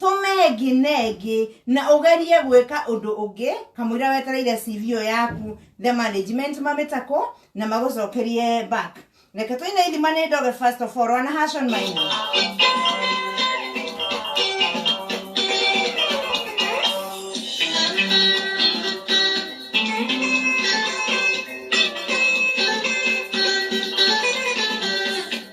tũmengi nengi na ugerie gwika undu ungi kamwira wetereire CV iyo yaku the management mamitako na magucokerie back reke tuine ithima ni ndoge first of all wana hashon maina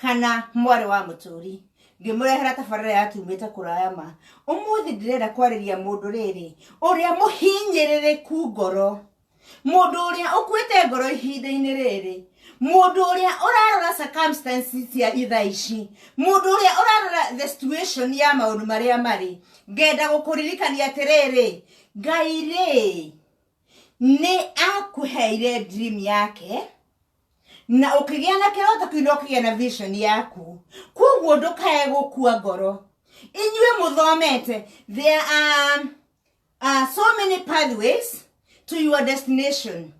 kana mwarĩ wa mũtũri ngĩmũrehera tabarĩra ya tumĩte kũraya ma ũmũthĩ ndĩrenda kwarĩria mũndũ rĩrĩ ũrĩa mũhinyĩrĩrĩku ngoro mũndũ ũrĩa ũkuĩte ngoro ihinda-inĩ rĩrĩ mũndũ ũrĩa ũrarora circumstances cia itha ici mũndũ ũrĩa ũrarora the situation ya maũndũ marĩa marĩ ngenda gũkũririkania atĩrĩrĩ ngai rĩ nĩ akũheire dream yake na ũkĩgĩa na kĩroto kĩu na ũkĩgĩa na vision yaku koguo ndũkae gũkua ngoro inyuĩ mũthomete there are uh, so many pathways to your destination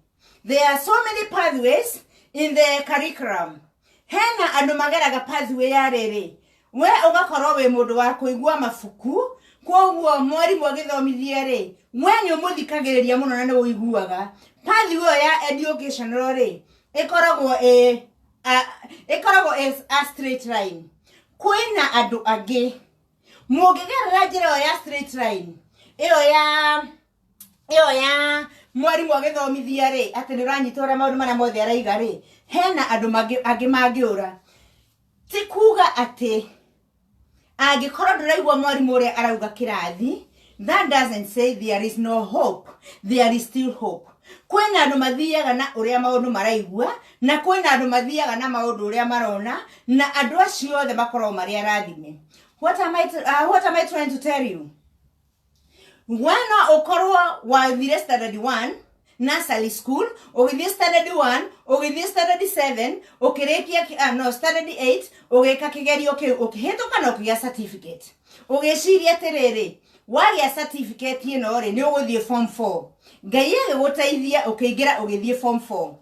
there are so many pathways in the curriculum hena andå mageraga pathway ya rä rä we ũgakorwo wĩ mũndũ wa kũigua mabuku kwoguo mwarimũ agĩthomithie rĩ we nĩ ũmũthikagĩrĩria mũno na nĩ ũiguaga pathi ĩyo ya educational rĩ ĩkoragwo ĩ a- ĩkoragwo ĩ a straight line kwĩna andũ angĩ mũngĩgerera njĩra ĩyo ya straight line ĩyo ya ĩyo ya mwarimũ agĩthomithia rĩ atĩ nĩ ũranyita ũrĩa maũndũ marĩa mothe araiga rĩ hena andũ mangĩ- angĩ mangĩũra ti kuga atĩ angĩkorwo ndũraigua mwarimũ ũrĩa arauga kĩrathi that doesn't say there is no hope there is still hope kwĩna andũ mathiaga na ũrĩa maũndũ maraigua na kwĩna andũ mathiaga na maũndũ ũrĩa marona na andũ acio othe makoragwo marĩ arathime what am I, uh, what am I trying to tell you we no ũkorwo wathire standard 1 nursery school ũgĩthiĩ standard 1 ũgĩthiĩ standard 7 ũkĩrĩkia ki- ah, no standard 8 ũgĩka kĩgerio kĩu ũkĩhĩtũka na ũkĩgĩa certificate ũgĩciria atĩrĩrĩ wagĩa certificate ĩno rĩ nĩ ũgũthiĩ form 4 ngai agĩgũteithia ũkĩingĩra ũgĩthiĩ form 4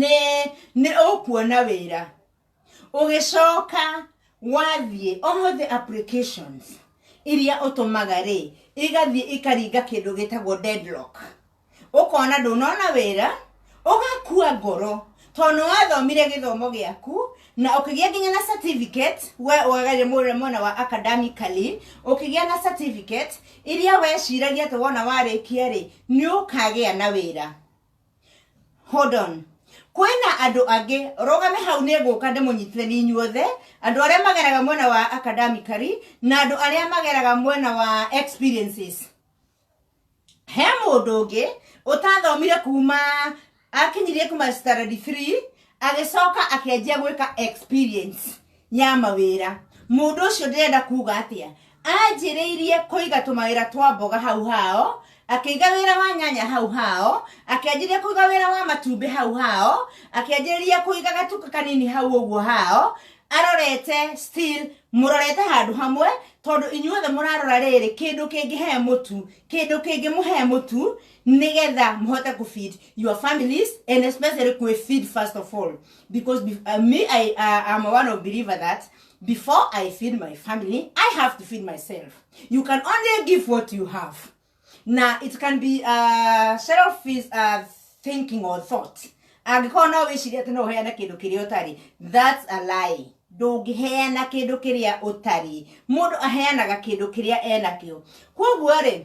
nĩ nĩ ũkuona wĩra ũgĩcoka wathiĩ all the applications iria ũtũmaga rĩ igathiĩ ikaringa kĩndũ gĩtagwo deadlock ũkona ndũnona wĩra ũgakua ngoro tondũ nĩ wathomire gĩthomo gĩaku na ũkĩgĩa nginya na certificate we ũgagarire mwena mwena wa academically ũkĩgĩa na certificate iria weciragia atĩ wona warĩkia rĩ nĩ ũkagĩa na wĩra hold on kwĩna andũ angĩ rũgame hau nĩ ngũka ndĩmũnyitĩre nĩ inyuothe andũ arĩa mageraga mwena wa academically na andũ arĩa mageraga mwena wa experiences he mũndũ ũngĩ ũtathomire kuma akinyirie kuma standard 3 agĩcoka akĩanjia gwĩka experience ya mawĩra mũndũ ũcio ndĩrenda kuga atĩa anjĩrĩirie kũiga tũmawĩra twa mboga hau hao akĩiga wĩra wa nyanya hau hao akĩanjĩrĩria kũiga wĩra wa matumbĩ hau hao akĩanjĩrĩria kũiga gatuka kanini hau ũguo hao arorete still mũrorete handũ hamwe tondũ inyuothe mũrarora rĩrĩ kĩndũ kĩngĩhe mũtu kĩndũ kĩngĩmũhe mũtu nĩgetha mũhote kũfeed your families and especially kwĩ feed first of all because be, uh, me I uh, am one of believer that before I feed my family I have to feed myself you can only give what you have now it can be uh, selfish uh, thinking or thought angĩkorwo no wĩciria atĩ no ũheana kĩndũ kĩrĩa ũtarĩ that's a lie ndũngĩheana kĩndũ kĩrĩa ũtarĩ mũndũ aheanaga kĩndũ kĩrĩa enakĩo kwoguo rĩ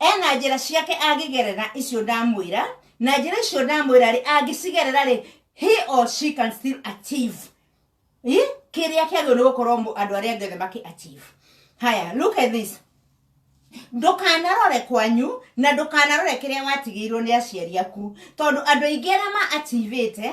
Ena njĩra ciake angĩgerera icio ndamwĩra, na njĩra icio ndamwĩra rĩ, angĩcigerera rĩ, he or she can still achieve Ĩ? kĩrĩa kĩagĩrĩirwo nĩ gũkorwo mũ- andũ arĩa angĩ othe makĩ achieve. Haya, look at this ndũkanarore kwanyu na ndũkanarore kĩrĩa watigĩirwo nĩ aciari aku tondũ andũ aingĩ arĩa ma ativĩte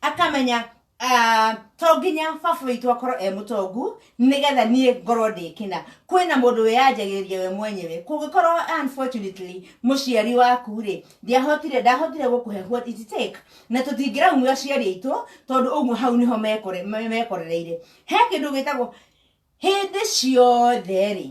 akamenya ah, to nginya baba witũ akorwo e mũtongu nĩgetha niĩ ngorwo ndĩkĩna kwĩna mũndũ wĩyanjagĩrĩria we mwenyewe kũngĩkorwo unfortunately mũciari waku rĩ ndiahotire ndahotire gũkũhe what it take na tũtingĩraumio aciari aitũ tondũ ũguo hau nĩho mekore- me- mekorereire he kĩndũ gĩtagwo hĩndĩ ciothe rĩ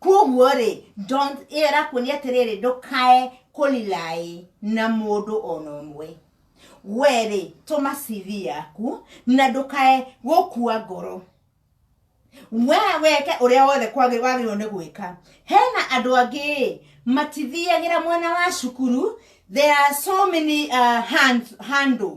koguo rĩ don't- ĩyo ĩrakuonia atĩrĩrĩ ndũkae kũlilaĩ na mũndũ ona ũmwe werĩ tũma cv yaku na ndũkae gũkua ngoro we weke ũrĩa wothe kwagĩ- wagĩrĩirwo nĩ gwĩka hena andũ angĩ ĩ, matithiagĩra mwena wa cukuru there are so many uh, hand, handle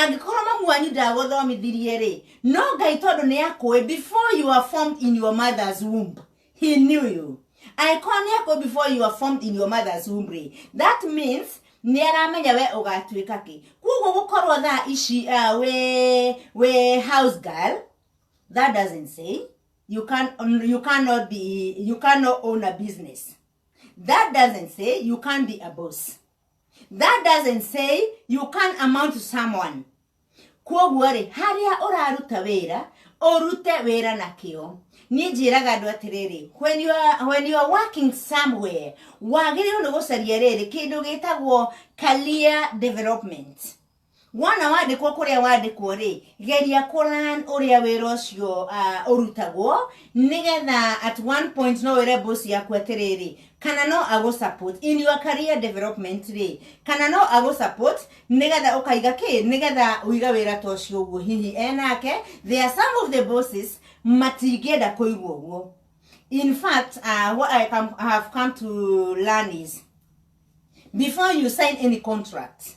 angĩkorwo mamu wanyu ndagũthomithirie-rĩ no ngai tondũ nĩ akũĩ before you are formed in your mother's womb he knew you angĩkorwo nĩ akũĩ before you are formed in your mother's womb rĩ that means nĩ aramenya we ũgatuĩka kĩ koguo gũkorwo thaa ici uh, we, we house girl that doesn't say you, can, you cannot be you cannot own a business that doesn't say you can't be a boss that doesn't say you can amount to someone kwoguo rĩ harĩa ũraruta wĩra ũrute wĩra na kĩo niĩ njĩraga andũ atĩrĩrĩ when you are, when you are working somewhere wagĩrĩirwo nĩ gũcaria rĩrĩ kĩndũ gĩtagwo career development wona wandĩkwo kũrĩa wandĩkwo rĩ geria kũran ũrĩa wĩra ũcio uh, ũrutagwo nĩgetha at one point no wĩre boss yaku atĩrĩrĩ kana no agũ support in your career development rĩ kana no agũ support nĩgetha ũkaiga kĩ nĩgetha ũiga wĩra ta ũcio ũguo hihi enake there are some of the bosses matingĩenda kũigua ũguo in fact uh, what I, come, I have come to learn is before you sign any contract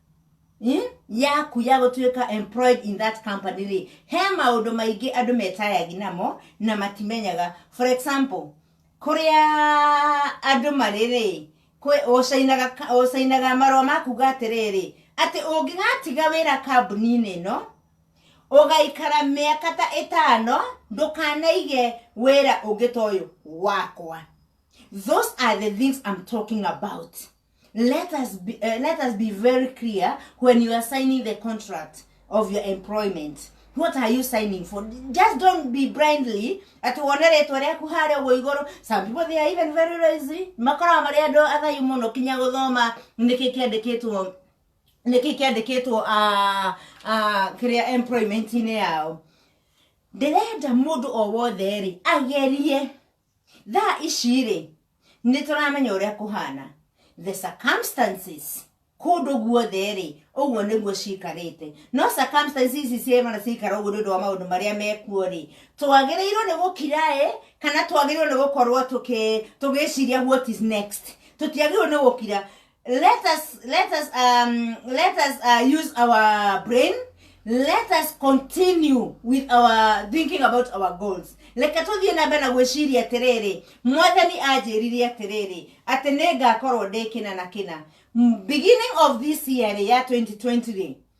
Hmm? yaku ya gũtuĩka employed in that company rĩ he maũndũ maingĩ andũ metayagi namo na matimenyaga for example kũrĩa andũ marĩ rĩ kwĩ- ũcainaga ka- ũcainaga marũa makuga atĩrĩrĩ atĩ ũngĩgatiga wĩra kambuni-inĩ ĩno ũgaikara mĩaka ta ĩtano ndũkanaige wĩra ũngĩ ta ũyũ wakwa those are the things I'm talking about let us be, uh, let us be very clear when you are signing the contract of your employment what are you signing for just don't be blindly ati wone rĩtwa rĩaku harĩa ũguo igũrũ some people they are even very lazy makoragwo marĩ andũ athayu mũno kinya gũthoma nĩkĩ kĩandĩkĩtwo nĩkĩ kĩandĩkĩtwo ah, ah, kĩrĩa employment-inĩ yao ndĩrenda mũndũ o wothe rĩ agerie thaa ici rĩ nĩ tũramenya ũrĩa kũhana the circumstances kũndũ guothe rĩ ũguo nĩguo cikarĩte no circumstances ici ciemana cikara ũguo nĩ ũndũ wa maũndũ marĩa mekuo rĩ twagĩrĩirwo nĩ gũkira ĩ kana twagĩrĩirwo nĩ gũkorwo tũkĩ- tũgĩciria what is next tũtiagĩrĩirwo nĩ gũkira let us let us um, let us uh, use our brain let us continue with our thinking about our goals reke tũthiĩ na mbere na gwĩciria atĩrĩrĩ mwathani anjĩrire atĩrĩrĩ atĩ nĩ ngakorwo ndĩ kĩna na kĩna M- beginning of this year ya 2020 rĩ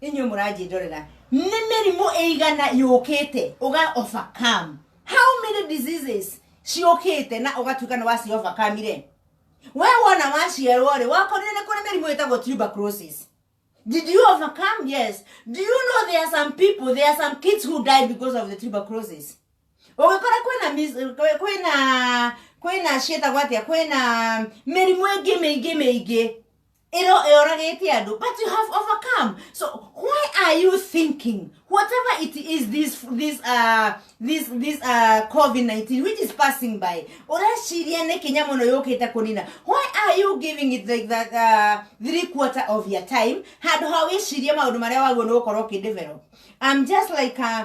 inyuĩ mũranjĩndorera nĩ mĩrimũ ĩigana yũkĩte ũga overcome how many diseases ciũkĩte na ũgatuĩka nĩ waci overcome rĩ we wona waciarwo rĩ wakorire nĩ kũrĩ mĩrimũ ĩtagwo tuberculosis Did you overcome? Yes. Do you know there are some people, there are some kids who die because of the tuberculosis? Ũgĩkora kwĩna mis- kwĩ- kwĩna kwĩna ciĩtagwo atĩa kwĩna mĩrimũ ĩngĩ mĩingĩ mĩingĩ ĩro ĩoragĩte andũ but you have overcome so why are you thinking whatever it is this this uh, this this uh, covid-19 which is passing by ũreciria nĩ kinya mũno yũkĩte kũnina why are you giving it like that uh, three quarter of your time handũ ha wĩcirie maũndũ marĩa wagwo nĩ gũkorwo ũkĩdevelop i'm just like uh,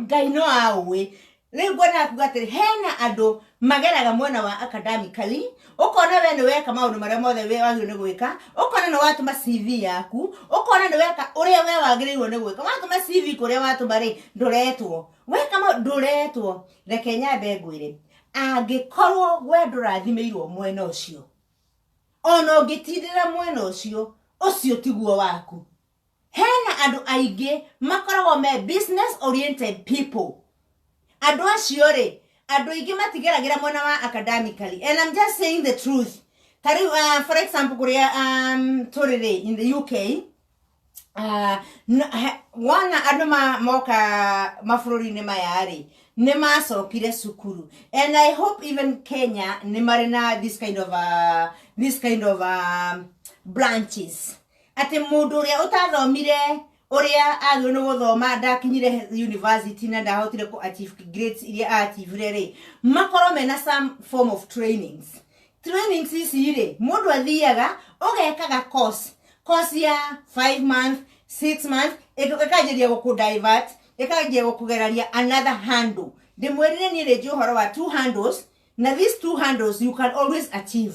ngai no aũĩ rĩu ngwenda akuga atĩrĩ hena andũ mageraga mwena wa academically ũkona we nĩweka maũndũ marĩa mothe we wagĩrĩirwo nĩ gwĩka ũkona nĩ watũma cv yaku ũkona nĩ weka ũrĩa we wagĩrĩirwo nĩ gwĩka watũma cv kũrĩa watũma rĩ ndũretwo weka ma ndũretwo reke nyambe ngwĩre angĩkorwo we ndũrathimĩirwo mwena ũcio ona ũngĩtindĩra mwena ũcio ũcio tiguo waku hena andũ aingĩ makoragwo me business oriented people andũ acio rĩ andũ aingĩ matigeragĩra mwena wa academically and I'm just saying the truth ta rĩu uh, for example kũrĩa um, tũrĩ rĩ in the UK uh, n- he- wona andũ ma- moka mabũrũri-inĩ maya rĩ nĩ macokire cukuru and i hope even kenya nĩ marĩ na this kind of uh, this kind of uh, branches atĩ mũndũ ũrĩa ũtathomire ũrĩa agĩrĩirwo nĩ gũthoma ndakinyire university na ndahotire kũ achieve grades iria achievire rĩ makorwo mena some form of trainings trainings ici rĩ mũndũ athiaga ũgekaga course course ya 5 month 6 month ĩka- ĩkanjĩria gũkũ divert ĩkanjia gũkũgeraria another handle ndĩmwĩrire niĩ rĩnjĩ ũhoro wa two handles na these two handles you can always achieve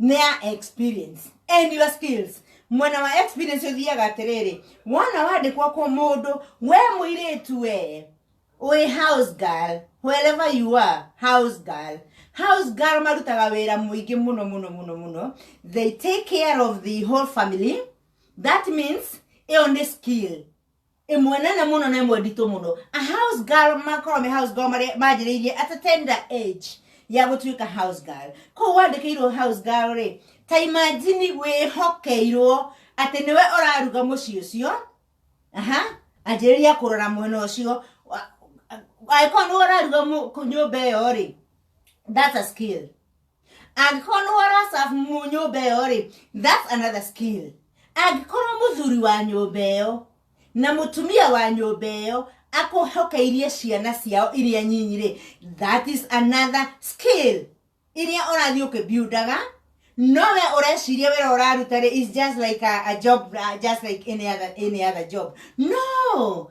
nĩa experience and your skills mwena wa experience ũthiaga atĩrĩrĩ wona wandĩkwo kũ mũndũ we mũirĩtu wee ũĩ house girl wherever you are house girl house girl marutaga wĩra mũingĩ mũno mũno mũno mũno they take care of the whole family that means ĩyo nĩ skill ĩmwe nene mũno na ĩmwe nditũ mũno a house girl makorwo me house girl marĩa manjĩrĩirie at a tender age ya gũtuĩka house girl kũu wandĩkĩirwo house girl rĩ ta imagine wĩhokeirwo atĩ nĩwe ũraruga mũciĩ ũcio aha anjĩrĩria kũrora mwena ũcio Wa- angĩkorwo nĩwe ũraruga mũ- kũ- nyũmba ĩyo rĩ that's a skill angĩkorwo nĩ warasabu mu nyũmba ĩyo rĩ that's another skill angĩkorwo mũthuri wa nyũmba ĩyo na mũtumia wa nyũmba ĩyo akũhokeirie ciana ciao iria nyinyi rĩ that is another skill iria ũrathiĩ ũkĩbiundaga no we ũreciria wĩra ũraruta rĩ is just like a, a job uh, just like any other, any other job no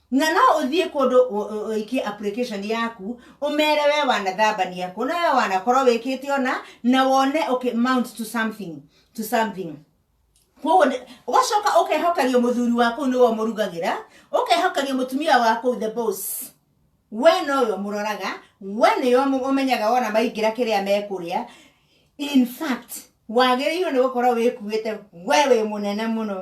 na no ũthiĩ kũndũ ũ- ũ- ũikie application yaku ũmere we wanathambania kũ na we wanakorwo wĩkĩte ona na wone okay, mount to something to something koguo nĩ- ũgacoka ũkehokerio mũthuri wa kũu nĩwe ũmũrugagĩra ũkehokerio mũtumia wa kũu the boss we nowe ũmũroraga we nĩwe ũmũ- ũmenyaga wona maingĩra kĩrĩa mekũrĩa in fact wagĩrĩirwo nĩ gũkorwo wĩkuĩte we wĩ mũnene mũno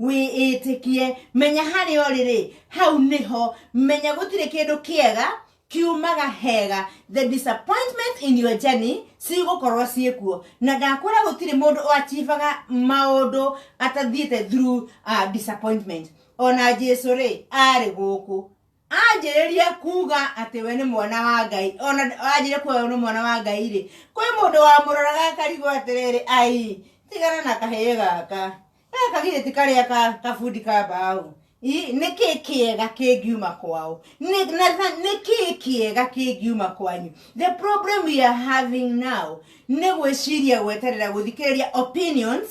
wĩĩtĩkie menya harĩa ũrĩ rĩ hau nĩho menya gũtirĩ kĩndũ kĩega kiumaga hega the disappointment in your journey cigũkorwo ciĩkuo na ndakwĩra gũtirĩ mũndũ ũachivaga maũndũ atathiĩte through uh, disappointment ona jesu rĩ arĩ gũkũ anjĩrĩria kuga atĩ we nĩ mwana wa ngai ona anjĩrĩria kuga we nĩ mwana wa ngai rĩ kwĩ mũndũ wamũroraga akarigwo atĩrĩrĩ ai tigana na kahĩĩ gaka gaka githĩ ti karĩa ka kabundi ka mbaũ Ĩ, nĩ kĩ kĩega kĩngiuma kwao Nĩ- na- na- nĩ kĩ kĩega kĩngiuma kwanyu the problem we are having now nĩ gwĩciria gweterera gũthikĩrĩria opinions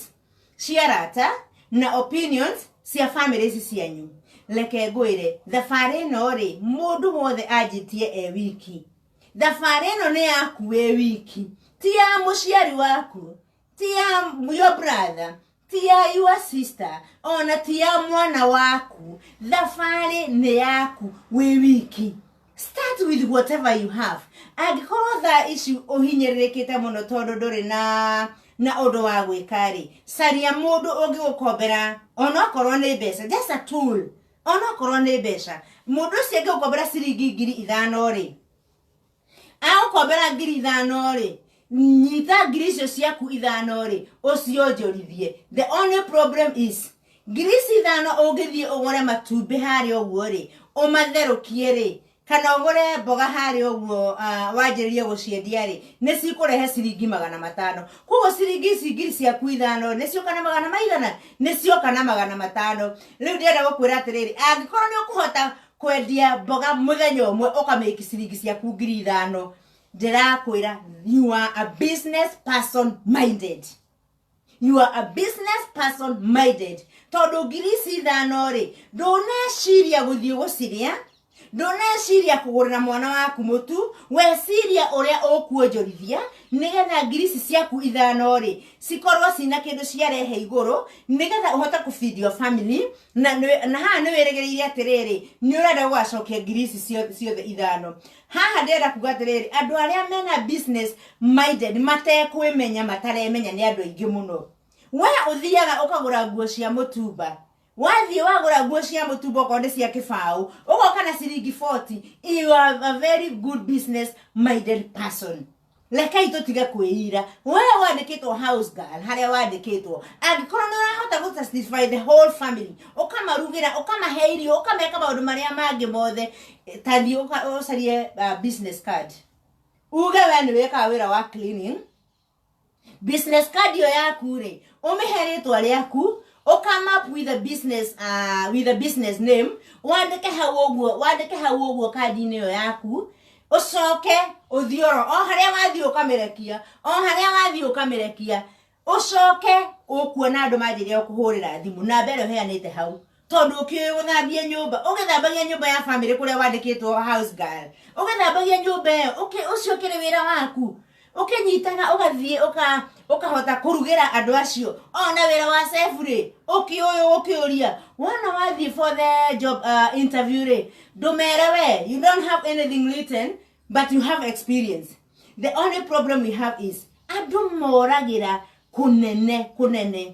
cia arata na opinions cia family ici cianyu reke ngwĩre thabarĩ ĩno rĩ mũndũ wothe anjĩtie e wiki thabarĩ ĩno nĩ yaku wĩ wiki ti ya mũciari waku ti ya your brother ti ya your sister ona ti ya mwana waku thabarĩ nĩ yaku wĩ wiki start with whatever you have angĩkorwo thaa ici ũhinyĩrĩrĩkĩte mũno tondũ ndũrĩ na na ũndũ wa gwĩka rĩ caria mũndũ ũngĩgũkombera onokorwo nĩ mbeca just a tool onokorwo nĩ mbeca mũndũ ũcio angĩgũkombera ciringi ngiri ithano rĩ agũkombera ngiri ithano rĩ nyita ngiri icio ciaku ithano rĩ ũcionjorithie the only problem is ngiri ici ithano ũngĩthiĩ ũgũre matumbĩ harĩa ũguo rĩ ũmatherũkie rĩ kana ũgũre mboga harĩa ũguo uh, wanjĩrĩrie gũciendia rĩ nĩ cikũrehe ciringi magana matano koguo ciringi ici ngiri ciaku ithano nĩ cioka na magana maigana nĩ cioka na magana matano rĩu ndĩrenda gũkwĩra atĩrĩrĩ angĩkorwo nĩ ũkũhota kwendia mboga mũthenya ũmwe ũkamĩki ciringi ciaku ngiri ithano ndĩrakwĩra you are a business person minded you are a business person minded tondũ ngiri ici ithano rĩ ndũneciria gũthiĩ gũcirĩa ndũneciria kũgũrĩra mwana waku mũtu weciria ũrĩa ũkuonjorithia nĩgetha ngiri ici ciaku ithano rĩ cikorwo cina kĩndũ ciarehe igũrũ nĩgetha ũhote kũfeed your family na, na haha nĩ wĩrĩgĩrĩire atĩrĩrĩ nĩ ũrenda gũgacokia ngiri ici ciothe ithano haha ndĩrenda kuga atĩrĩrĩ andũ arĩa mena business minded matekwĩmenya mataremenya nĩ andũ aingĩ mũno we ũthiaga ũkagũra nguo cia mũtumba wathiĩ wagũra nguo cia mũtumba okorwo nĩ cia kĩbaũ ũgoka na ciringi 40 you are a very good business minded person rekei tũtige kwĩira we wandĩkĩtwo house girl harĩa wandĩkĩtwo angĩkorwo nĩ ũrahota gũ satisfy the whole family ũkamarugĩra ũkamahe irio ũkameka maũndũ marĩa mangĩ mothe eh, ta thiĩ ũka- ũcarie uh, business card uge we nĩ wĩkaga wĩra wa cleaning business card ĩyo yaku rĩ ũmĩhe rĩtwa rĩaku ũkamap with a business uh, with a business name wandĩke hau ũguo wandĩke hau ũguo kandi-inĩ ĩyo yaku ũcoke ũthiĩ oro o harĩa wathiĩ ũkamĩrekia o harĩa wathiĩ ũkamĩrekia ũcoke ũkuona andũ manjĩrĩria kũhũrĩra thimũ namba ĩrĩa ũheanĩte hau tondũ ũkĩũĩ gũthambia nyũmba ũgĩthambagia nyũmba ya bamĩrĩ kũrĩa wandĩkĩtwo house girl ũgĩthambagia nyũmba ĩyo ũki- ũcio ũkĩrĩ wĩra waku ũkĩnyitaga ũgathiĩ ũka- ũkahota kũrugĩra andũ acio ona wĩra wa sefu rĩ ũkĩũyũ ũkĩũria wona wathiĩ for the job uh, interview rĩ ndũmere we you don't have anything written but you have experience the only problem we have is andũ moragĩra kũnene kũnene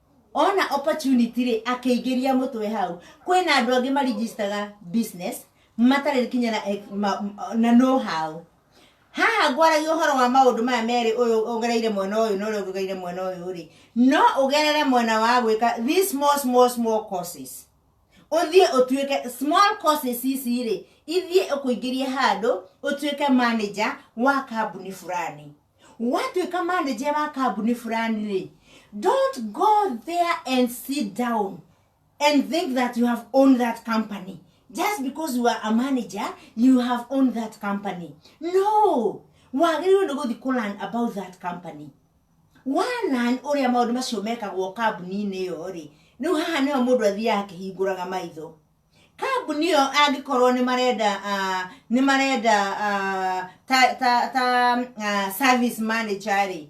ona opportunity rĩ akĩingĩria mũtwe hau kwĩna andũ angĩ maregistaga business matarĩ kinya na, ex- ma- ma- na know how haha ngwaragia ũhoro wa maũndũ maya merĩ ũyũ ũgereire mwena ũyũ na ũrĩa ũgereire mwena ũyũ rĩ no ũgerere mwena wa gwĩka these small small small courses ũthiĩ ũtuĩke small courses ici rĩ ithiĩ ũkũingĩrie handũ ũtuĩke manager wa kambuni fulani watuĩka manager wa kambuni fulani rĩ don't go there and sit down and think that you have owned that company just because you are a manager you have owned that company no wagĩrĩirwo nĩ gũthiĩ kũ learn about that company wanan ũrĩa maũndũ macio mekagwo kambuni-inĩ ĩyo rĩ rĩu haha nĩho mũndũ athiaga akĩhingũraga maitho kambuni ĩyo angĩkorwo nĩ marenda ah, nĩ marenda ah, ta ta ta ah, service manager rĩ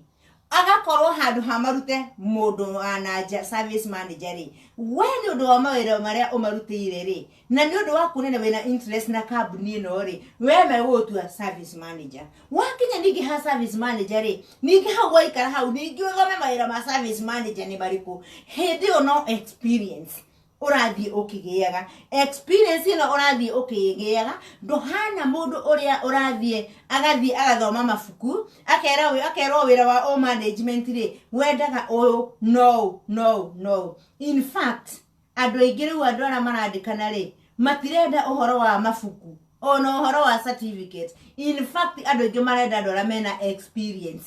agakorwo handũ hamarute mũndũ ah, na nja service manager rĩ we nĩ ũndũ wa mawĩra marĩa ũmarutĩire rĩ na nĩ ũndũ wa kuonana wĩna interest na kambuni ĩno rĩ we megũgũtua service manager wakinya ningĩ ha service manager rĩ ningĩ hau waikara hau ningĩ ũthome mawĩra ma service manager nĩ marĩkũ hĩndĩ ĩyo no experience ũrathiĩ ũkĩgĩaga experience ĩno ũrathiĩ ũkĩgĩaga ndũhana mũndũ ũrĩa ũrathiĩ agathiĩ agathoma mabuku akera wĩ- akerwo wĩra wa o management rĩ wendaga ũyũ no no no in fact andũ aingĩ rĩu andũ arĩa marandĩkana rĩ matirenda ũhoro wa mabuku ona ũhoro wa certificate in fact andũ aingĩ marenda andũ arĩa mena experience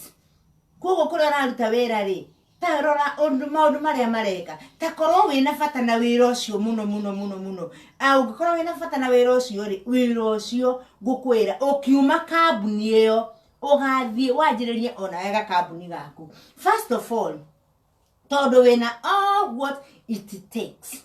koguo kũrĩa ũraruta wĩra rĩ ta rora ũndũ maũndũ marĩa mareka ta korwo wĩna bata na wĩra ũcio mũno mũno mũno mũno Ah, ũngĩkorwo wĩna bata na wĩra ũcio rĩ wĩra ũcio ngũkwĩra ũkiuma kambuni ĩyo ũgathiĩ wanjĩrĩrie ona wega kambuni gaku first of all tondũ wĩna all what it takes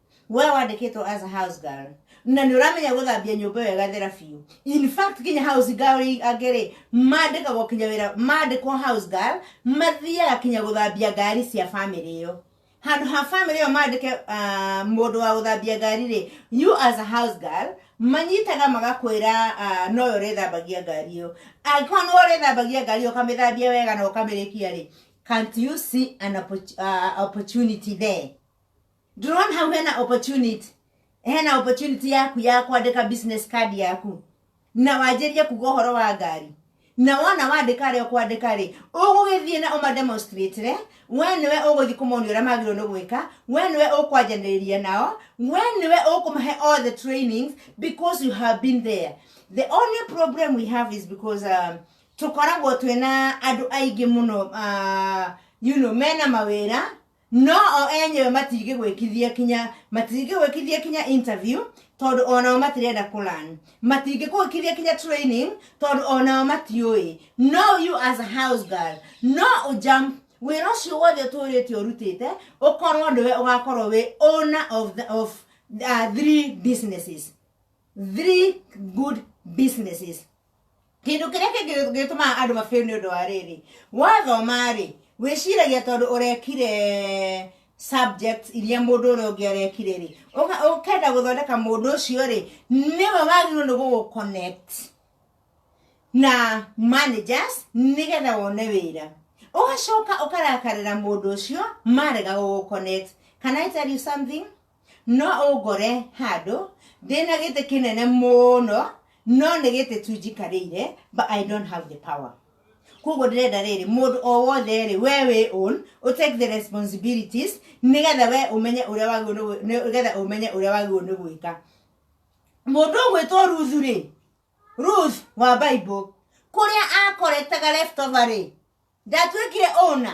we wandĩkĩtwo as a house girl na nĩ ũramenya gũthambia nyũmba ĩyo ĩgathera biũ in fact kinya house girl angĩrĩ mandĩkagwo kinya wĩra mandĩkwo house girl mathiaga kinya gũthambia ngari cia family ĩyo handå ha family ĩyo mandĩke ah, mũndũ wa gũthambia ngari rĩ you as a house girl manyitaga magakwĩra ah, noyo ũrĩthambagia ngari ĩyo angĩkorwo nĩ ũrĩthambagia ngari ĩyo ũkamĩthambia wega na ũkamĩrĩkia rĩ can't you see an opportu- ah, opportunity there ndĩrona hau hena opportunity hena opportunity yaku ya kwandĩka business card yaku na wanjĩrie kuga ũhoro wa ngari na wona wandĩka arĩa ũkwandĩka rĩ ũgũgĩthiĩ na ũmademonstratire we nĩwe ũgũthiĩ kũmonia ũrĩa magĩrĩirwo nĩ gwĩka we nĩwe ũkwanjanĩrĩria nao we nĩwe ũkũmahe all the trainings because you have been there the only problem we have is because um, tũkoragwo twĩna andũ aingĩ mũno uh, you know, mena mawĩra no o enyewe matingĩgwĩkithia kinya matingĩgwĩkithia kinya interview tondũ onao matirenda kũlan matingĩgwĩkithia kinya training tondũ onao matiũĩ no you as a house girl no ũjump wĩra ũcio wothe ũtũrĩte ũrutĩte ũkorwo nĩwe ũgakorwo wĩ owner of, the, of uh, three businesses three good businesses Kĩndũ kĩrĩa kĩngĩ gĩtũmaga andũ mabĩo nĩ ũndũ wa rĩrĩ wathoma rĩ wĩciragia tondũ ũrekire subjects iria mũndũ ũrĩa ũngĩ arekire rĩ ũka- ũkenda gũthondeka mũndũ ũcio rĩ nĩwe wagĩrĩirwo nĩ gũgũconnect na managers nĩgetha wone wĩra ũgacoka ũkarakarĩra mũndũ ũcio marega gũgũconnect can i tell you something no ũngore handũ ndĩna gĩtĩ kĩnene mũno no nĩ gĩtĩ tu njikarĩire but i don't have the power koguo ndĩrenda rĩrĩ mũndũ o wothe rĩ we wĩ own ũ take the responsibilities nĩgetha we ũmenye ũrĩa wagĩrĩirwo nĩ gwĩ- nĩ- nĩgetha ũmenye ũrĩa wagĩrĩirwo nĩ gwĩka mũndũ ũgwĩtwo ruthu rĩ ruth wa bible kũrĩa akoretaga leftover rĩ ndatuĩkire ũna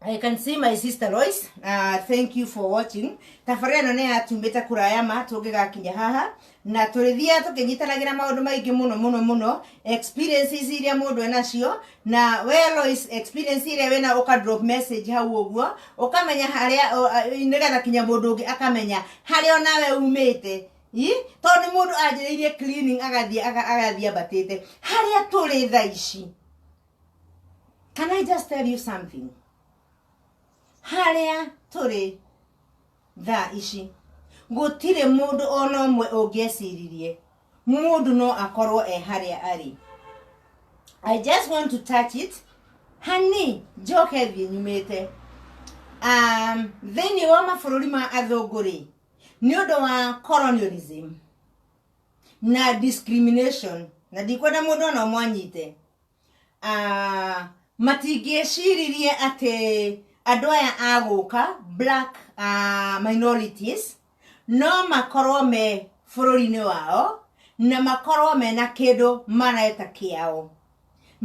I can see my sister Lois. Uh, thank you for watching. Tabarĩra ĩno nĩ yatumbĩte kũraya ma tũngĩgakinya haha na tũrĩthiaga tũkĩnyitanagĩra maũndũ maingĩ mũno mũno mũno experiences iria mũndũ enacio na we Lois experience iria wĩna ũka drop message hau ũguo ũkamenya harĩa ũ- a- nĩgetha kinya mũndũ ũngĩ akamenya harĩa onawe umĩte Ĩ? tondũ nĩ mũndũ anjĩrĩirie cleaning agathiĩ aga- agathiĩ ambatĩte harĩa tũrĩ thaa ici Can I just tell you something? Harĩa tũrĩ thaa ici gũtirĩ mũndũ ona ũmwe ũngĩeciririe mũndũ no akorwo e harĩa arĩ I just want to touch it hani njoke thiĩ nyumĩte um, thĩinĩ wa mabũrũri ma athũngũ rĩ nĩ ũndũ wa colonialism na discrimination na ndikwenda mũndũ ona ũmwanyite Ah, matingĩciririe atĩ andũ aya agũka black ah, minorities no makorwo me bũrũri-inĩ wao na makorwo mena kĩndũ mareta kĩao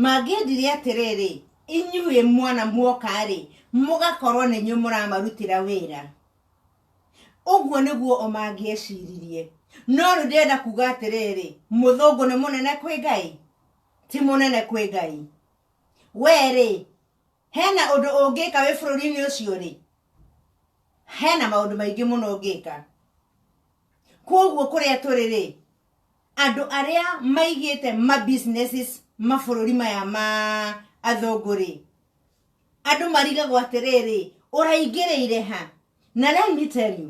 mangĩendire atĩrĩrĩ inyuĩ mwana muoka-rĩ mũgakorwo nĩ inyuĩ mũramarutĩra wĩra ũguo nĩguo o mangĩeciririe no rĩu ndĩrenda kuga atĩrĩrĩ mũthũngũ nĩ mũnene kwĩ ngai ti mũnene kwĩ Ngai. We-rĩ, hena ũndũ ũngĩka wĩ bũrũri-inĩ ũcio-rĩ, hena maũndũ maingĩ mũno ũngĩka. Kwoguo kũrĩa tũrĩ-rĩ, andũ arĩa maigĩte ma businesses mabũrũri maya ma athũngũ-rĩ, andũ marigagwo atĩrĩrĩ, ũraingĩrĩire ha? Na let me tell you,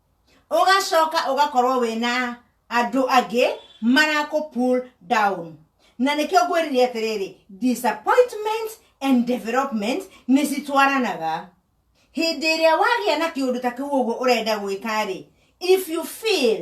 ũgacoka ũgakorwo wĩna andũ angĩ marakũ pull down na nĩkĩo ngwĩrire atĩrĩrĩ disappointment and development nĩ citwaranaga hĩndĩ ĩrĩa wagĩa na kĩũndũ ta kĩu ũguo ũrenda gwĩka rĩ if you feel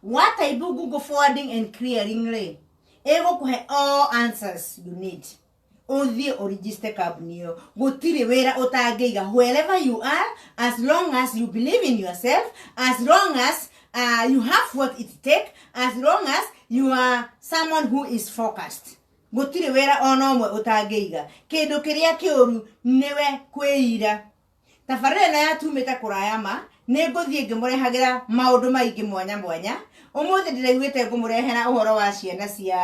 What I do Google forwarding and clearing rĩ, ĩgũkũhe all answers you need. Ũthiĩ ũregister kambuni ĩyo. Gũtirĩ wĩra ũtangĩiga wherever you are as long as you believe in yourself, as long as uh, you have what it take, as long as you are someone who is focused. Gũtirĩ wĩra ona ũmwe ũtangĩiga. Kĩndũ kĩrĩa kĩũru nĩwe kwĩira. tabarĩra ĩno ya tumĩte kũraya ma nĩ ngũthiĩ ngĩmũrehagĩra maũndũ maingĩ mwanya mwanya ũmũthĩ ndĩraiguĩte ngũmũrehera ũhoro wa ciana cia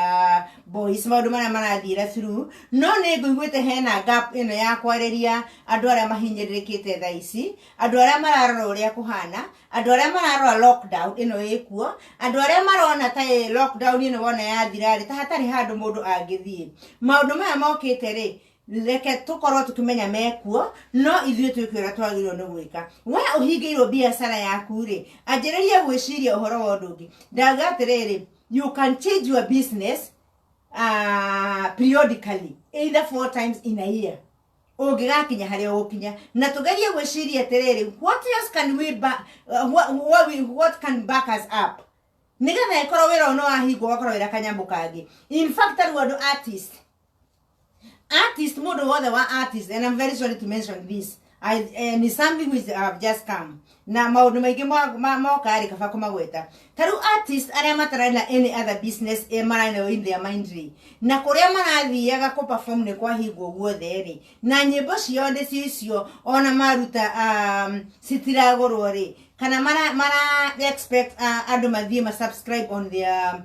boys maũndũ marĩa marathiĩra through no nĩ ngũiguĩte hena gap ĩno ya kwarĩria andũ arĩa mahinyĩrĩrĩkĩte thaa ici andũ arĩa mararora ũrĩa kũhana andũ arĩa mararora lockdown ĩno ĩkuo andũ arĩa marona ta ĩ lockdown ĩno wona yathira rĩ ta hatarĩ handũ mũndũ angĩthiĩ maũndũ maya mokĩte rĩ reke tũkorwo tũkĩmenya mekuo no ithuĩ twĩke ũrĩa twagĩrĩirwo nĩ gwĩka we ũhingĩirwo biacara yaku rĩ anjĩrĩrie gwĩciria ũhoro wa ũndũ ũngĩ ndauga atĩrĩrĩ you can change your business uh, periodically either four times in a year ũngĩgakinya harĩa ũgũkinya na tũgerie gwĩciria atĩrĩrĩ what else can we ba, uh, what, what, we, what can back us up nĩgetha ĩkorwo wĩra ũno wahingwo ũgakorwo wĩra kanyamũ kangĩ in fact tarĩu andũ artist artist mũndũ wothe wa artist and I'm very sorry to mention this I, eh, ni something which have just come na maundu maingi moka ri kaba kumagweta taru artist aria matarari na any other business e marari nayo in their mind ri na kuria marathiaga ku perform ni kwa hingo guothe ri na nyimbo cio ndi cio icio ona maruta um, citiragurwo ri kana mara mara expect uh, andu mathie ma subscribe on their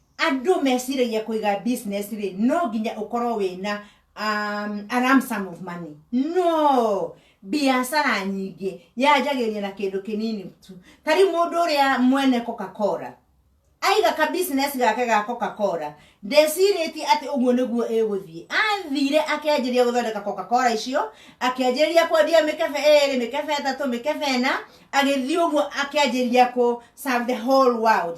Andũ meciragia kũiga business rĩ, no nginya ũkorwo wĩna um, a lump sum of money. No! Biacara nyingĩ yanjagĩrĩria na kĩndũ kĩnini tu. Ta rĩu mũndũ ũrĩa mwene Coca-Cola, aiga ka business gake ga Coca-Cola, ndecirĩtie atĩ ũguo nĩguo ĩgũthiĩ. Athire akenjĩria gũthondeka Coca-Cola icio, akĩanjĩrĩria kwendia mĩkebe ĩrĩ, mĩkebe ĩtatũ, mĩkebe ĩna, agĩthiĩ ũguo akĩanjĩrĩria kũ serve the whole world.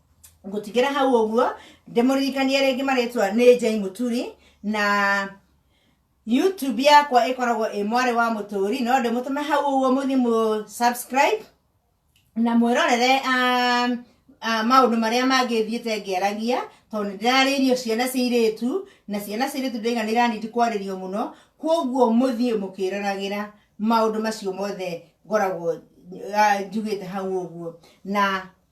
ngũtigĩra hau ũguo ndĩmũririkanie rĩngĩ marĩtwa nĩ jai mũturi na youtube yakwa ĩkoragwo ĩ mwarĩ wa mũtũri no ndĩmũtũme hau ũguo mũthiĩ mũ subscribe na mwĩrorere um, uh, maũndũ marĩa mangĩ thiĩte ngĩaragia tondũ nĩ ndĩrarĩirio ciana cia irĩtu na ciana cia irĩtu ndĩraiga nĩ iranindi kwarĩrio mũno kwoguo mũthiĩ mũkĩroragĩra maũndũ macio mothe ngoragwo uh, njugĩte hau ũguo na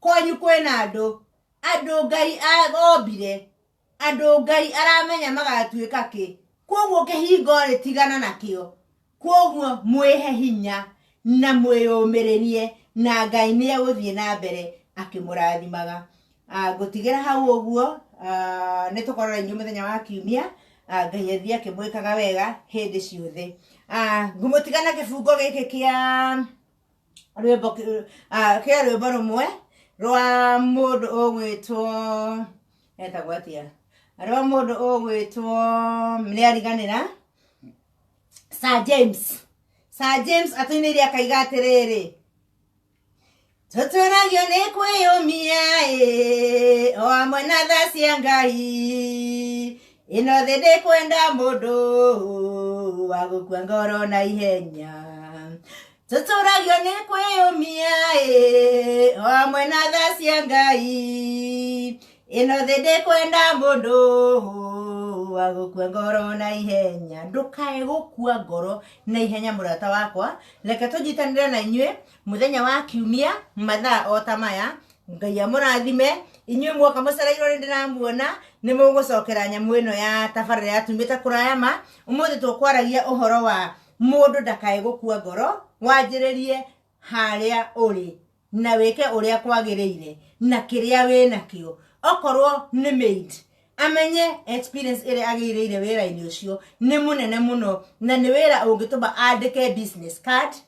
kwanyu kwĩna andũ andũ ngai ombire andũ ngai aramenya magatuĩka kĩ kwoguo kĩhingo rĩ tigana nakĩo kwoguo mwĩhe hinya na mwĩyũmĩrĩrie na ngai nĩ egũthiĩ na mbere akĩmũrathimaga ah, ngũtigĩra hau ũguo ah, nĩ tũkorora inyuĩ mũthenya wa kiumia ah, ngai athiĩ akĩmwĩkaga wega hĩndĩ ciothe ah, ngũmũtiga na kĩbungo gĩkĩ kĩa rwĩmbo kĩ- ah, kĩa rwĩmbo rũmwe rwa mũndũ ũgwĩtwo etagwo atia rwa mũndũ ũgwĩtwo nĩariganĩra sir james sir james atũinĩire akaiga atĩrĩrĩ tũtũragio nĩ kwĩyũmia ĩ o amwe na tha cia ngai ĩno thĩ ndĩkwenda mũndũ wa gũkua ngoro na ihenya tũtũragio nĩ kwĩyũmia ĩ o hamwe na tha cia ngai ĩno thĩ ndĩkwenda mũndũ wa gũkua ngoro na ihenya ndũkae gũkua ngoro na ihenya mũrata wakwa reke tũnyitanĩre na inyuĩ mũthenya wa kiumia mathaa o ta maya ngai amũrathime inyuĩ muoka mũcereirwo nĩ ndĩramuona nĩ mũgũcokera nyamũ ĩno ya tabarĩra ya tumĩte kũraya ma ũmũthĩ tũkwaragia ũhoro wa mũndũ ndakae gũkua ngoro wanjĩrĩrie harĩa ũrĩ na wĩke ũrĩa kwagĩrĩire na kĩrĩa wĩ nakĩo okorwo nĩ maid amenye experience ĩrĩa agĩirĩire wĩra-inĩ ũcio nĩ mũnene mũno na nĩ wĩra ũngĩtũma andĩke business card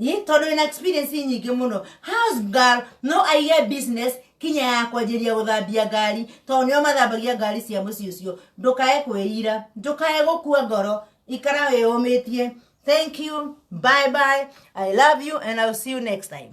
Ĩ, tondå wä na experience nyingä må no house girl no aige business kinya ya kwanjĩria gũthambia ngari tondũ nĩo mathambagia ngari cia mũciĩ ũcio ndũkae kwĩira ndũkae gũkua ngoro ikara wĩyũmĩtie thank you bye bye i love you and I'll see you next time